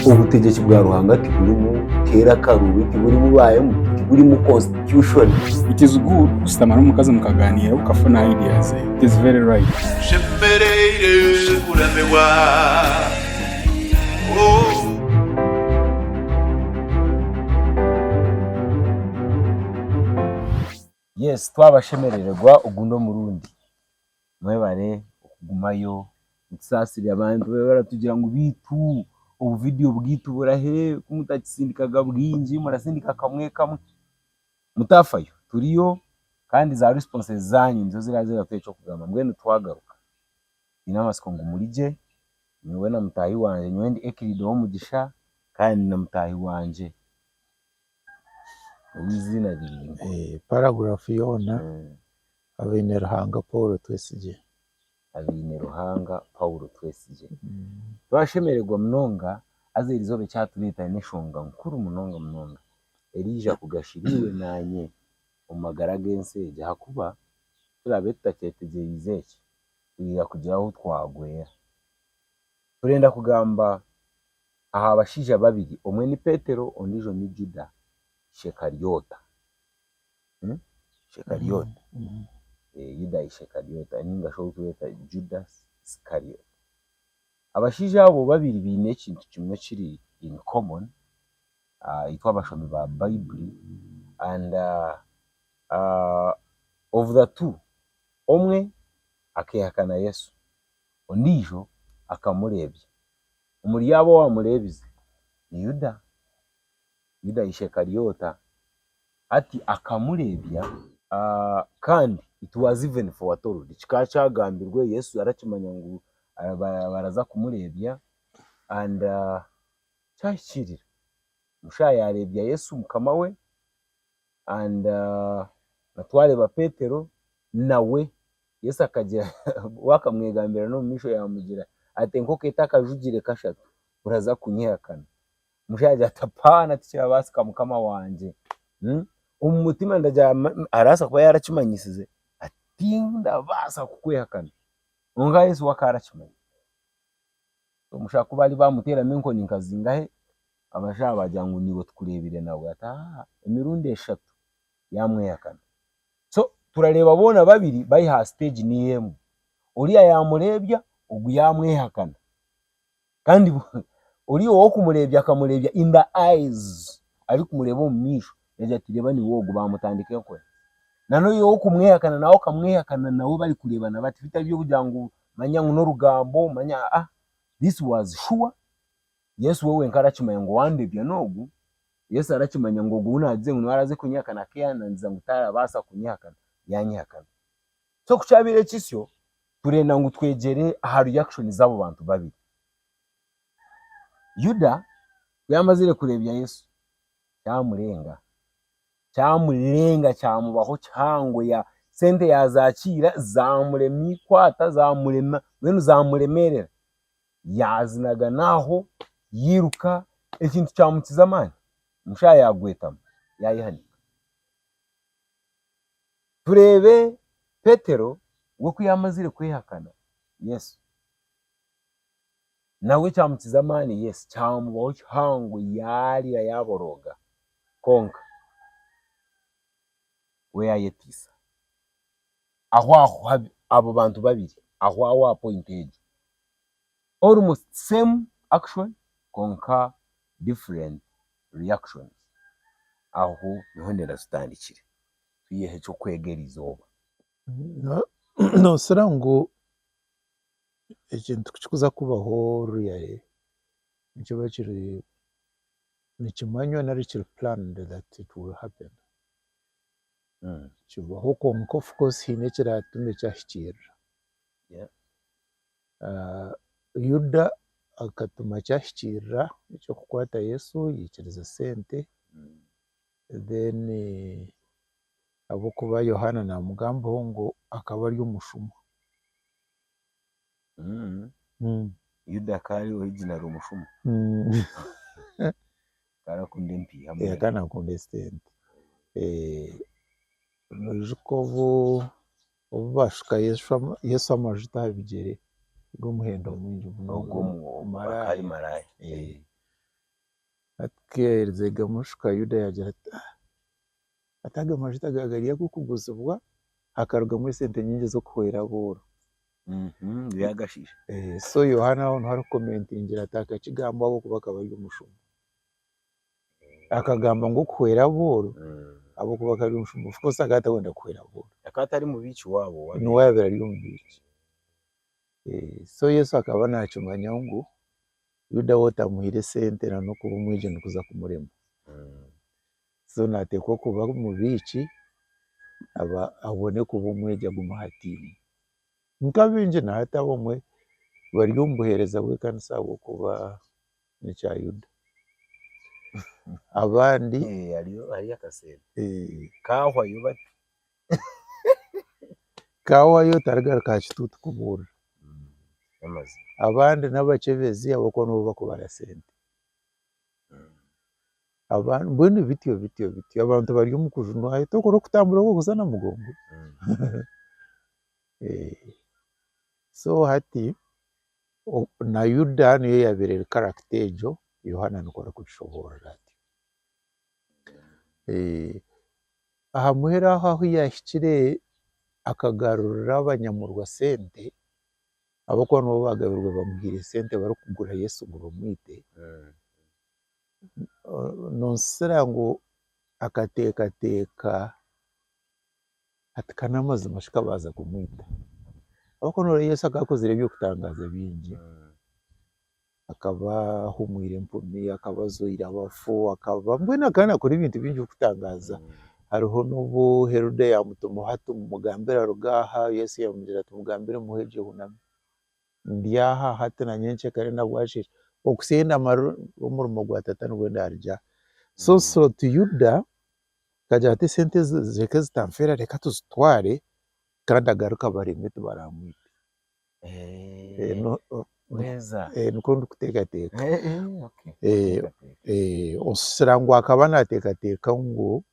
Obutegyeki bwa Ruhanga tiburimu keera akaruubi, tiburimu baayemu, tiburimu constitution. It is good kushutama n'omukazi mukagaaniira okafuna idea ze. It is very right. Nshemereire kuramirwa oh. Yes twabashemerererwa ogundi omurundi. Mwebare okugumayo. Mutusaasire abantu babi abaratugirira ngu beitu obu vidiyo bwaitu burahe ku mutakisindikaga bwingi murasindika kamwe kamwe. Mutafayo turiyo kandi za risiponse zaanyu nizo ziraabe ziratuha eky'okugamba. Mbwenu twagaruka nyine amatsiko ngu murigye, nyowe na mutaahi wangye. Nyowe ndi Ekiriida ow'omugisha kandi nyine mutaahi wangye ow'eiziina rirungi. Paragraph yoona. Abaine-Ruhanga Paulo Twesigye. Abaine-Ruhanga Paulo Twesigye. Twashemererwa munonga haza eri izooba ekyatureetera n'enshonga nkuru munonga munonga eriija kugashira iwe naanye omu magara g'ensi egi ahakuba turaabe tutakyetegyereize eki, twija kugira ahu twagwera. Turenda kugamba aha bashaija babiri omwe ni Petero ondiijo ni Juda Shekaryota. Shekalyota, Yuda Ishekalyota ninga shi orikweeta Juda Sikalyota. Abashaija abo babiri baine ekintu kimwe ekiri in common, itwe abashomi ba Baibuli and of the two, omwe akeehakana Yesu, ondiijo akamureebya. Omuri abo owaamureebize ni Yuda, Yuda Ishekalyota. Hati akamureebya, kandi it was even foretold, kikaba kyagambirwe, Yesu yarakimanya ngu baraza kumureebya, and kyahikiirira, omushaija yareebya Yesu mukama we, and twareeba Petero nawe Yesu akagira, wakamwegambira nomumaisho yamugira ati enkooko etakajugire kashatu oraza kunyehakana. omushaija agira ati apaana tikirabaasika mukama wangye, omu mutima ndagira ngu arabaasa kuba yarakimanyisize ati tindabaasa kukwehakana kwonka Yesu we akaba arakimanya, omushaija ku baari baamuteeramu enkoni nka zingahe abashaija baagira ngu niiwe tukureebire nawe ati haaha emirundi eshatu yaamwehakana, so turareeba boona babiri bari aha siteegi niyo emwe, oriya yaamureebya ogu yaamwehakana Kandi oriya ow'okumureebya akamureebya in the eyes, arikumureeba omu maisho nagira ati reeba niwe ogu, baamutandika enkora. N'oriya ow'okumwehakana nawe okamwehakana nawe barikureebana bati, bitari by'okugira ngu manya ngu n'orugambo manya aa, this was sure, Yesu we wenka arakimanya ngu owandeebya n'ogu, Yesu arakimanya ngu ogu ou naagize ngu niwe araaze kunyehakana, ak'ehananisa ngu taarabaasa kunyehakana, yaanyehakana. So ku kyabaire kityo, turenda ngu twegyere aha reaction z'abo bantu babiri. Yuda ku yaamazire kureebya Yesu, kyamurenga. Kyamurenga kyamubaho kihango, ya sente yaazaakiira zaamurema eikwata, zaamurema mbwenu zaamuremeerera. Yaazinagana aho, yairuka, ekintu kyamukiza amaani, omushaaha yaagwetamu, yaayehanika. Tureebe Petero we ku yaamazire kwehakana Yesu. Nawe kyamukiza amaani? Yes, kyamubaho kihango yaarira yaaborooga. Kwonka we yaayeteisa. Ahwaho abo bantu babiri, ahwaho aha ppoyinti egyo. almost same action kwonka different reactions. Aho niho endera zitandikire. Tuyeho ekyokwega erizooba. Noosira ngu ekintu kukikuza kubaho really nikiba kiri nikimanywa nari kiri planned that it will happen? Kibaho kwonka of course haine ekiraatume kyahikiirira. Yuda akatuma ki ahikiirira eky'okukwata Yesu yaikiriza esente then ahabw'okuba Yohaana naamugambaho ngu akaba ari omushuma. Yuda akaba ari original ari omushuma? Akaba naakunda empiiha munonga. Akaba naakunda esente. Noija oku Obu baashuka Yesu amajuta aha bigyere g'omuhendo mwingi munonga, ku yaaherize gamushuka, Yuda yaagira ati, Ati aga majuta ga gari ag'okuguzibwa, hakarugamu esente nyingi ez'okuhwera abooro. So Yohaana aho niho arikukomentingira ati, Aka kigambo ahabw'okuba akaba ari omushuma. akagamba ngu okuhwera abooro ahabw'okuba akaba ari omushumba of course akaba atarikwenda kuhwera abooro. Akaba atari mubiiki waabo wa Niwe yaabaire ari omubiiki. So Yesu akaba naakimanya ngu Yuda we otamuhaire sente na n'okuba omwegi nikuza kumurema. So naateekwa kuba omubiiki aba abone kuba omwegi agume aha tiimu. Nk'abaingi na hati abamwe bari omu buheereza bw'ekanisa ahabw'okuba n'ekya Yuda. Abandi Eh, hariyo hariyo akaseera eh, kaahwayo bati kaahwayo tarigaruka aha kituutu kubuurira. n'amazima Abandi n'abakyebezi ahabw'okuba nibo bakubara sente. Abandi mbwenu bityo bityo bityo abantu bari omu kujunwayo torikubura okutambura oku orikuza na mugongo. Eh, so hati na Yuda niyo yaabaire eri karagita egyo, Yohaana nikwo arikugishoboorora ati, aha muheru aho ahu yaahikire akagarurira abanyamurwa sente ahabw'okuba nibo baagabirwe bamuhaire sente barikugura Yesu ngu bamwite, noonsisira ngu akateekateeka Ati, Ka n'amazima shi ka baaza kumwita? Ahabw'okuba nooreeba Yesu akaba akozire eby'okutangaaza bingi. Akaba ahumwire empumi, akaba ajwaire abafu, akaba mbwenu akaba naakora ebintu bingi by'okutangaaza. Hariho n'obu Herode yaamutumaho ati, Mugambire aruge aha. Yesu yaamugira ati, Mugambire muhe gye huname. Ndi aha, hati na nyenkya ekare na bwakye ekiro. Okuhitsya ei ndamara omurimo gwa Tata nibwo ndaarugye aha. So so Yuda akagira ati esente ezi reka ezitanfeera reka tuzitware kandi agaruke abareme tibaramwite nikwo ndikuteekateeka oshusha ngu akaba nateekateeka ngu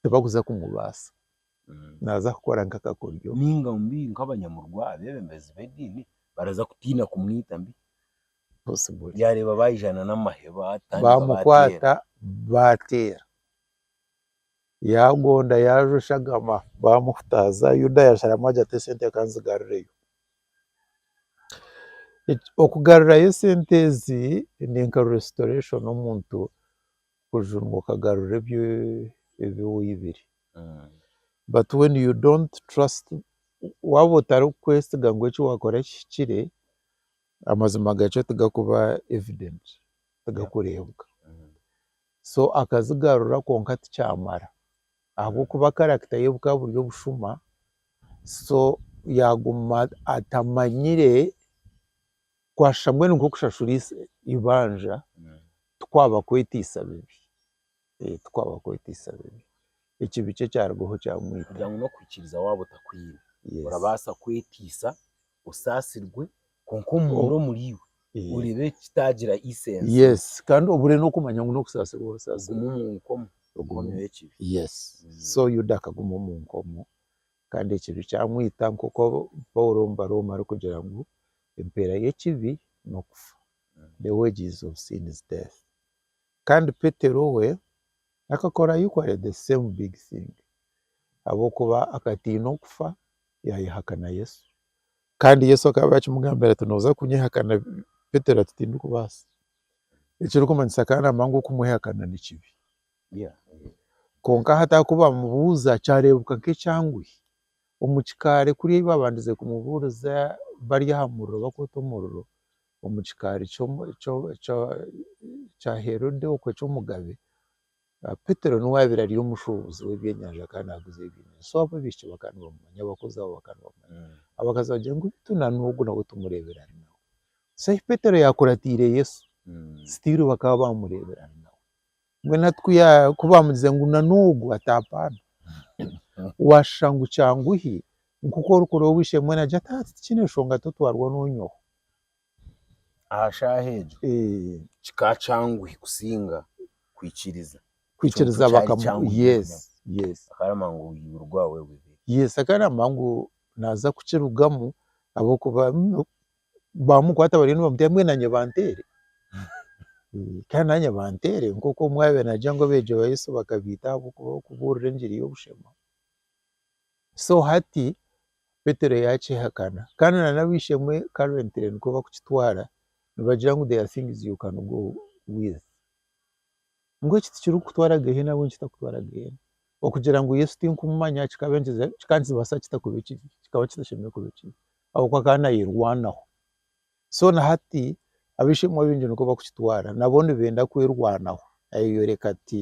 tibakuza kumubaasa naaza kukora nka akakoryo nainga mbi nka abanyamurwa abeebembezi b'ediini baraza kutiina kumwita mbi yaareeba baija n'amaheba baamukwata baateera. Yaagonda yaajwa eshagama baamuhutaaza, Yuda yaasharamu agira ati esente kanzigarureyo. Okugarurayo esente ezi ni nka restoration omuntu kujunga ngu okagarura ebi ebi oibire but when you don't trust waaba otarikwesiga ngu eki waakora kihikire, amazima gakyo tigarikuba evident, tigarikureebwa. so akazigarura kwonka tikyamara ahabw'okuba character ye bukaba buri obushuma so yaguma atamanyire kwashusha mbwenu nk'okushashura eibanja tikwaba kwetiisa bibi tikwaba kwetiisa bibi ekibi kye kyarugaho kyamwita. Kugira ngu n'okuhikiiriza waaba otakwiine, orabaasa kwetiisa osaasirwe Kwonka omu omwe omuri iwe Eh, oreba ekitaagira isense yes kandi obure n'okumanya ngu n'okusaasirwa osaasirwa ogumu mu nkomo Ogumu. nkomo y'ekibi yes so yuda akaguma omu nkomo kandi ekibi kyamwita nk'oku paulo omu barooma arikugira ngu empeera y'ekibi n'okufa the wages of sin is death kandi petero we akakora equally the same big thing ahabw'okuba akatiina okufa yaayehakana yesu Kandi Yesu akaba akimugambira ati, Nooza kunyehakana. Petero ati, Tindikubaasa. Ekirikumanyisa kandi naamanya ngu okumwehakana ni kibi. Kwonka hati ahaku baamubuuza kyareebeka nk'ekyanguhi. Omu kikaari kuri ei baabandize kumubuuriza bari aha muriro bakwota omuriro, omu kikaari kya Herode okwe eky'omugabe, Petero niwe aabaire ari omushuubuzi w'ebyenyanja akaba naaguza ebyenyanja. So abo abaishiki bakaba nibamumanya, abakozi abo bakaba nibamumanya. Abakazi bagira ngu beitu na n'ogu nawe tumureebire ari nawe. So ahi Petero yaakuratiire Yesu, sitiiru bakaba baamureebire ari nawe. Mbwenu hati ku ya ku baamugize ngu na n'ogu ataapaana, waashusha ngu kyanguhi nk'oku orikureeba obwishiki mbwenu agira ati, hati tikine nshonga totwarwa n'onyowe. aha shaaha egyo Eh, kikaba kyanguhi kusinga kwikiriza kwikiriza Ekintu kyari bakamu kyangu yes yes akarama ngu obuzibu rwawe bubi yes akarama ngu naza kukirugamu ahabw'okuba mm, baamukwata bariyo nibamuteera mbwenu naanye banteere Eh, kandi naanye banteere nk'oku omwe yaabaire naagira ngu abeegi ba Yesu bakabeita ahabw'okuba barikubuurira enjiri y'obushema. So hati Petero yakyehakana kandi na nabishemwe currently nikwo bakukitwara nibagira ngu they are things you can go with ngu eki tikirikukutwara gehena ahabw'enki kitakutwara gehena okugira ngu Yesu tinkumumanya kikaba enkiza kikaba nikibasa kita kuba ekibi kikaba kitashemereire kuba ekibi ahabw'okuba akaba nayerwanaho so na hati abishemwe abingi nikwo bakukitwara nabo nibenda kwerwanaho nayeyoreka ati.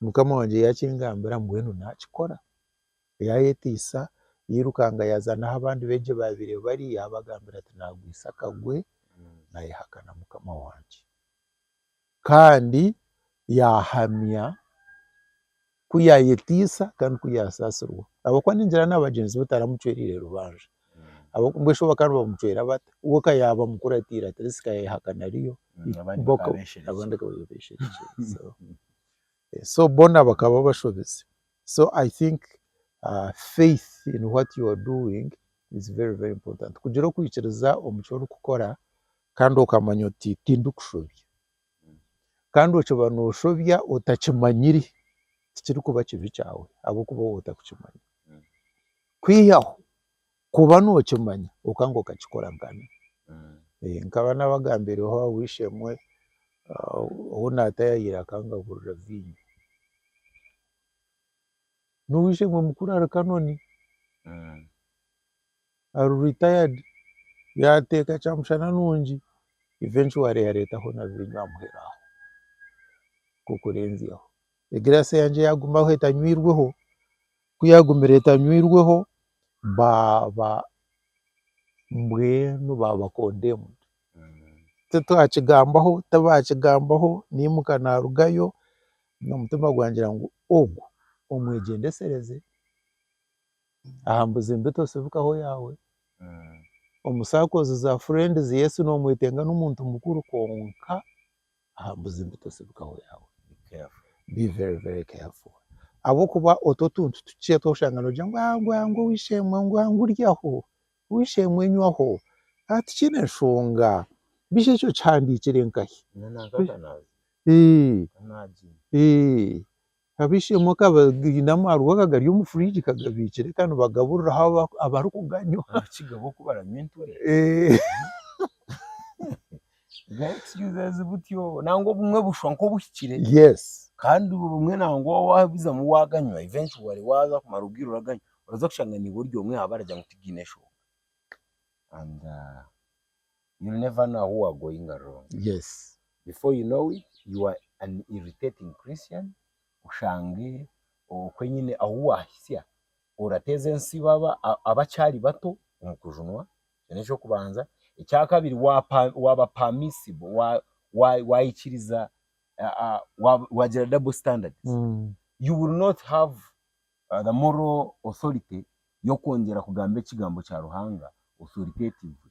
Mukama wangye yaakingambira mbwenu naakikora. Yaayeteisa, yairukanga yaaza n'ahu abandi beegi baabaire bari yaabagambira ati, Naagwisa akagwe, naayehakana Mukama wangye. Kandi yaahamya ku yaayeteisa kandi ku yaasaasirwa ahabw'okuba ningira na bagyenzi be taramucwereire rubanja. Mbwenu bakaba nibamucwera bata? We ka yaaba mukuru ataire ati atleast ka yayehakana ariyo. Abandi bakaba bebeshereki. So boona bakaba bashobezi. So I think faith in what you are doing is very very important. Kugira okwikiriza omu ki orikukora kandi okamanya oti tindikushobya. kandi okyo oba noshobya otakimanyire tikirikuba kibi kyawe ahabw'okuba waba otakukimanya, kwihaho kuba nokimanya kwonka ngu okakikora nkana, nkaba nabagambireho aha w'eishe-emwe ou naatayaayira akangagurira viinyo, n'ow'eishe-emwe mukuru ari Kanoni. ari retired yateeka kyamushana nungi eventually yareetaho na viinyo amuheere aho nk'okurenzyaho. Egiraasi yangye yaagumaho etanywirweho, ku yaagumire etanywirweho baaba mbwenu baaba condemned. Titwakigambaho tibaakigambaho naimuka naarugayo n'omutima gwangira ngu ogu omwegyendetsereze. Aha mbuzi mbi tosibikaho yaawe. Omu sakozi za furendizi Yesu noomwetenga n'omuntu mukuru kwonka aha mbuzi mbi tosibikaho yaawe. Be very very careful. Ahabw'okuba otwo otuntu tukye tw'oshanga noogira ngu aa ngu aa ngu oweishe-emwe ngu aa ngu ryaho, oweishe-emwe nywaho, aa tikiine nshonga, beijo ekyo kihandiikire nkahi? Eeh eeh. kabishemu akabagainemu hariho akagari omu fridge kagabiikire ka nibagaburiraho aba abarikuganywa Abakiga bo kubaranywa enture eeh za excuses butyo nangwa obumwe bushwa nk'obuhikire yes kandi obumwe nangwa wabizamu waganywa eventually waza kumara obwire oraganywa oraza kushanga niiwe ori omwe aha baragira ngu tigaine enshoonga and you'll never know who are going wrong. Yes. Before you know it, you are an irritating Christian, oshange okwe nyine ahu waahitsya orateeza ensi baba abakyari bato omu kujunwa. Ekyo n'eky'okubanza. Ekyakabiri, waapa waaba permissive, waa waa waikiriza waa waagira double standards, you will not have the moral authority y'okwongyera kugamba ekigambo kya Ruhanga authoritatively.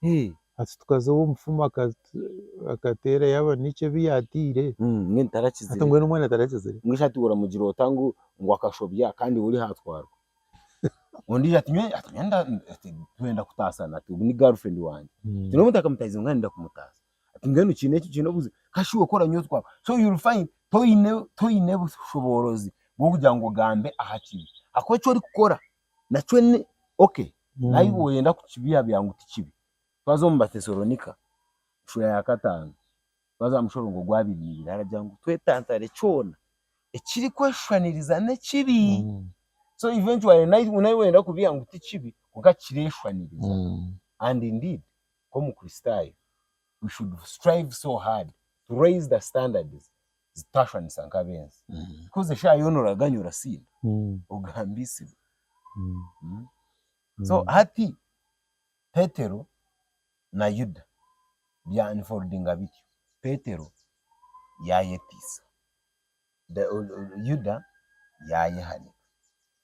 Hee, hati tukaza obu omufumu akateera yaaba n'eki ebi yaataire? Hati mbwenu tarakizire? Hati mbwenu omwana tarakizire? Mbwenu hati oramugira ota ngu akashobya kandi iwe ori haatwarwa? Ondiijo ati nyowe twenda kutaasana, ati ogu ni girlfriend wangye. Ati n'obu ntakamutaahize mbwenu ndenda kumutaasa. Ati mbwenu kiine ki kiine obuzibu? Kasha iwe kora nyowe twaba. So you'll find toine toine bushoboorozi bw'okugira ngu ogambe aha kibi ahakuba eki orikukora Nakyo ni ok, naiwe oyenda kukibyabya ngu tikibi. Twaza omu Batesalonika, sura ya kataano, twaza aha mushorongo gwa abiri na ibiri, haragira ngu twetantare kyona ekiri kweshushaniriza n'ekibi. So eventually naiwe naiwe oyenda kubiha ngu tikibi kwonka kireshushaniriza. And indeed, nk'omukristaayo, we should strive so hard to raise the standards zitashwanisa nk'ab'ensi. Because eshaaha yoona oraganya orasinda, ogambiisibwa. So hati Petero na Yuda bya unfoldinga bityo. Petero yaayetiisa, Yuda yaayehanika.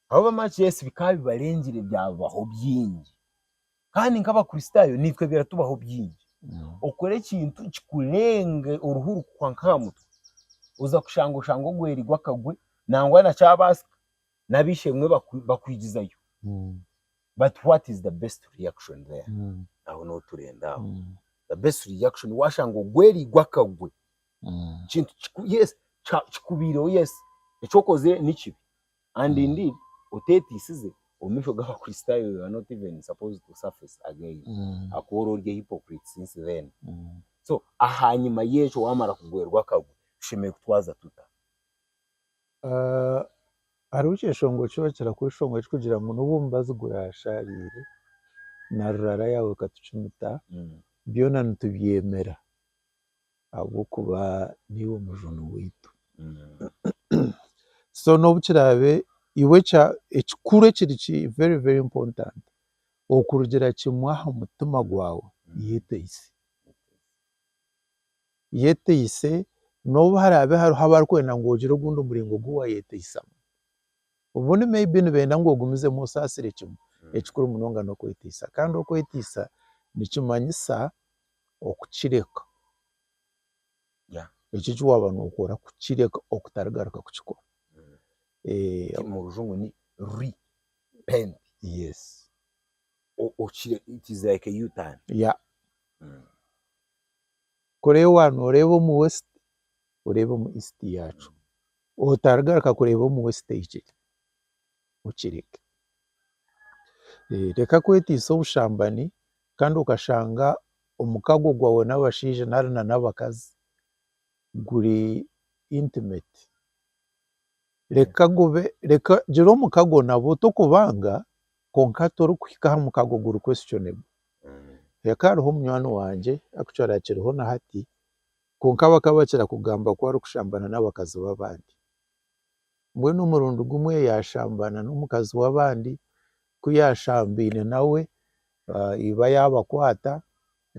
Ahabw'okuba bamanya ngu yes bikaba bibarengire byabaho bingi. Kandi nk'Abakristaayo naitwe biratubaho bingi. Okora ekintu kikurenge oruhu rukuhwa nk'aha mutwe, oza kushanga oshanga ogwerigwe akagwe nangwa na kyabaasika n'ab'eishe-emwe bakwigizayo but what is the best reaction there? Aho niho turenda aho. The best reaction waashanga ogwerigwe akagwe, ekintu yes kikubaireho yes eki okozire ni kibi and indeed oteteisize omu maisho g'abakristaayo you are not even supposed to surface again ahakuba ori ori a hypocrite since then so ahanyima y'ekyo waamara kugwerwa akagwe tushemereire kutwaza tuta? Ah, hariho ekyeshongo ki orakira kuba ekishonga ekirikugira ngu n'obu omubazi guraashaariire na rurara yaawe ekatukimita, byona nitubyemera. ahabw'okuba niiwe omujuni waitu. So n'obu kiraabe iwe ekya ekikuru ekiri ki very very important okurugira kimwe aha mutima gwawe yeteise. Yeteise n'obu haraabe hariho abarikwenda ngu ogire ogundi muringo ogu waayeteisamu, obundi may be nibenda ngu ogumizemu osaasire kimwe, ekikuru munonga n'okweteisa kandi okweteisa nikimanyisa okukireka ekyo eki waaba nokora kukireka okutarigaruka kukikora omu rujungu ni repent it is like a u-turn kureba noreeba omu west oreeba omu east yaacu otarigaruka kureeba omu west eyi kiri okireke. Reka kweteisa obushambani kandi okashanga omukago gwawe n'abashaija nari na n'abakazi guri intimate. Reka gube reka gira omukago nabo tokubanga kwonka torikuhika aha mukago guri questionable. Reka hariho munywani wangye actually akiriho na hati kwonka bakaba bakira kugamba ku arikushambana n'abakazi b'abandi. Mbwenu omurundi gumwe yaashambana n'omukazi w'abandi, ku yaashambaine nawe iba yaabakwata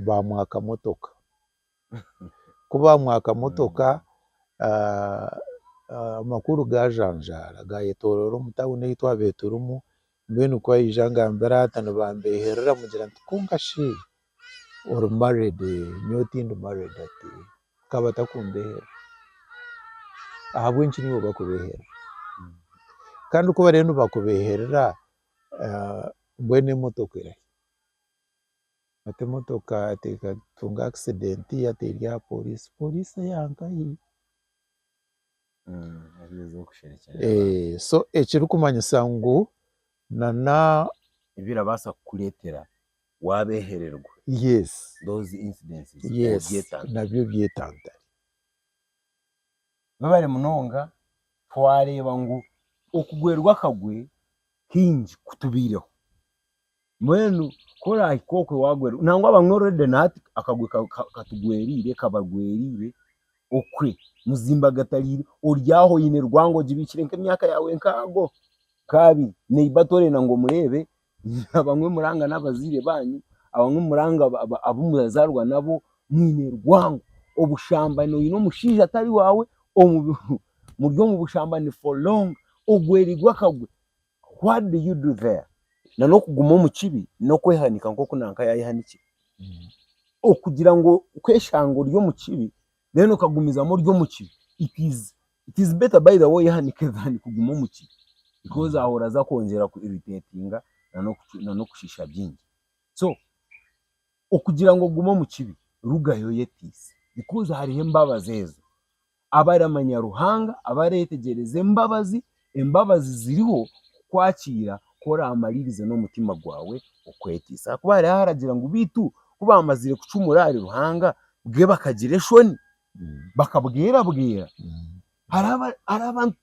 baamwaka motoka. Ku baamwaka motoka amakuru gaajanjaara gaayetooroora omu tauni ei twabaire turimu Mbwenu ku aija angambira ati nibambeeherera mugira nti kwonka shi ori married? Nyowe tindi married ati ka batakumbeeherera ahabw'enki naiwe bakubeeherera? Kandi ku bariyo nibakubeeherera mbwenu emotoka eri ahi? Ati emotoka ati ekatunga accident yateerwa aha poriisi, poriisi eyaanka ahi? ekirikumanyisa ngu ebirabaasa kukureetera waabehererwa nabyo byetantare, webare munonga twareeba ngu okugwerwa akagwe kaingi kutubaireho. Mbwenu ku orahika okwe wagwerwa, nangwa bamwe already na hati akagwe katugweriire, kabagweriire okwe muzimbagatariire, ori aho oyine rwango ogibiikire nk'emyaka yaawe nkaago, nk'abiri, neiba torenda ngu omureebe, abamwe muranga n'abaziire baanyu, abamwe muranga abu murazaarwa nabo, mwine rwango, obushambani oyine omushaija atari waawe, muri omu bushambani for long, ogwerirwe akagwe. What do you do there? Na n'okuguma omu kibi n'okwehanika nk'oku nanka yayehanikire. Okugira ngu kweshanga ori omu kibi then okagumizamu ori omu kibi, it is it is better by the way oyehanike than kuguma omu kibi because aho oraza kwongyera ku irritatinga na n'oku na n'okushisha byingi. So. okugira ngu ogume omu kibi, rugayo oyeteise. Bikozi hariho embabazi ezo. Abaramanya Ruhanga, abaretegyereza embabazi, embabazi ziriho kukwakiira ku oramaririze n'omutima gwawe okweteisa. Ahakuba hariho aharagira ngu beitu ku bamazire kucumura ahari Ruhanga, bwe bakagira eshoni, bakabwerabwera. hariho abantu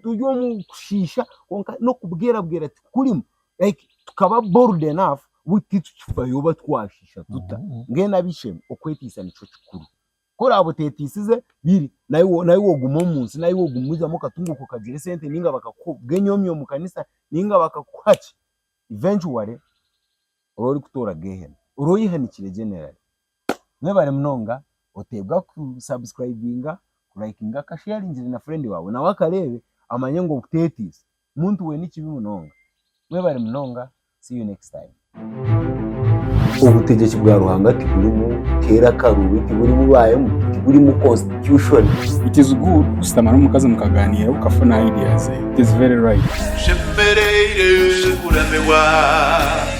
turi omu kushiisha kwonka n'okubwerabwera tikurimu like tukaba bold enough bu titukifayo oba twashiisha tuta mbwenu ab'eishe-emwe okweteisa nikyo kikuru ku oraabe oteeteisize biri naiwe naiwe ogume omu nsi naiwe ogume oihamu akatunguuka okagire esente nainga bakakuha obwenyoomi omu kanisa nainga bakakuha ki eventually oraba orikutoora geehena oraba oyehanikire generally. Mwebare munonga oteebwa ku subscribinga, ku likinga ka sharingire na friend waawe nawe akareebe amanye ngu obuteetiisa muntu weena ekibi munonga. Mwebare munonga see you next time. Obutegyeki bwa Ruhanga tiburimu teera karubi, tiburimu baemu, tiburimu constitution. It is good kushutama n'omukazi mukagaaniira okafuna ideas ze. It is very right. Tushemereire kuramirwa.